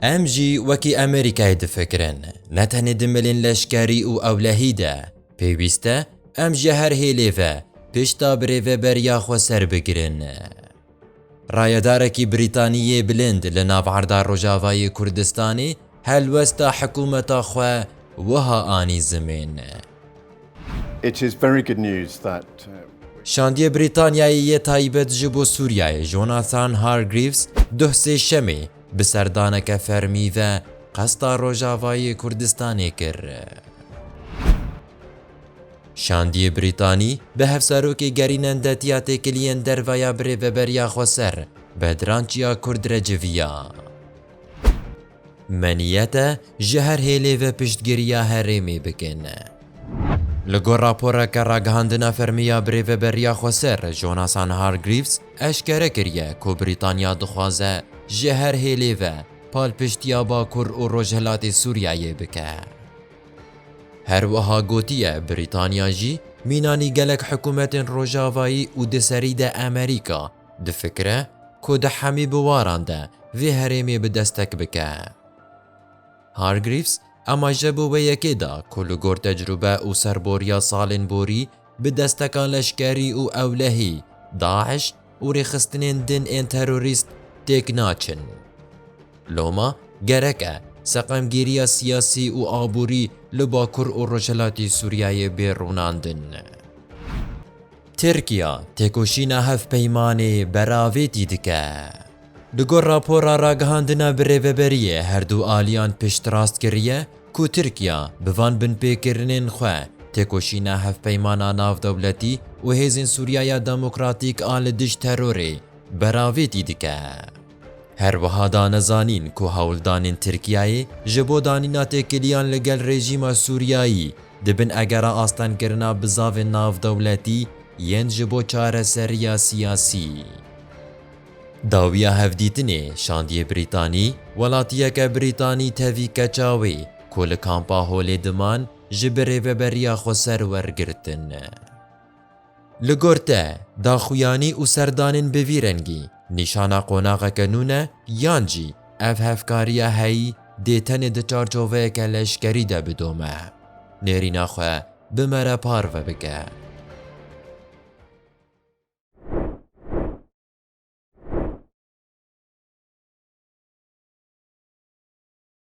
Em jî wekî Amerîkayê difikirin, ne tenê di milên leşkerî û ewlehî de, pêwîst e em ji her hêlê ve pişta birêveberiya xwe serbigirin. Rayedarekî Brîtaniyê bilind li nav erda Rojavayê Kurdistanê, Helwesta hikumeta xwe wiha anî zimên. Şandiyê Brîtanyayê yê taybet ji bo Sûriyeyê Jonathan Hargreaves duh sêşemê bi serdaneke fermî ve qesta Rojavayê Kurdistanê kir. Şandiyê Brîtanî bi hevserokê gerînen detiya têkiliyên derve ya birêveberiya xweser Bedran Çiyakurd re civiya. Me niyet e ji her hêlê ve piştgiriya herêmê bikin. Li gor raporeke ragihandina fermî ya Birêveberiya Xweser Jonathan Hargreaves eşkere kiriye ku Brîtanya dixwaze ji her hêlê ve palpiştiya Bakur û Rojhilatê Sûriyeyê bike. Her wiha gotiye Brîtanya jî mînanî gelek hikûmetên Rojavayî û di serî de Amerîka, Difikire ku di hemî biwaran de vê herêmê bi destek bike. Hargreaves amaje bo wê yekê da ku li gor tecrube û serboriya salên borî bi desteka leşkerî û ewlehî DAIŞ û rêxistinên din ên terorîst têk naçin. Loma gerek e seqemgîriya siyasî û aborî li bakur û rojhilatî Sûriyeyê bê rûnandin. Tirkiya têkoşîna hevpeymanê beravêtî dike. Bi gor rapora ragihandina birêveberiyê her du aliyan piştrast kiriye ku Tirkiya bi van binpêkirinên xwe têkoşîna hevpeymana navdewletî û hêzên Sûriyaya Demokratîk a li dijî terorê beravêtî dike. Her wiha da nezanîn ku hewldanên Tirkiyeyê ji bo danîna têkiliyan li gel rejîma Sûriyeyî di bin egera astengkirina bizavên navdewletî yên ji bo çareseriya siyasî. Dawiya hevdîtinê şandiyê Brîtanî, welatiyeke Brîtanî tevî keça wê ku li kampa Holê diman ji bi rêveberiya xweser wergirtin. Li gor te, daxuyanî û serdanên bi vî rengî, nîşana qonaxeke nû ne yan jî ev hevkariya heyî dê tenê di çarçoveyeke leşkerî de bidome? Nêrîna xwe bi me re parve bike.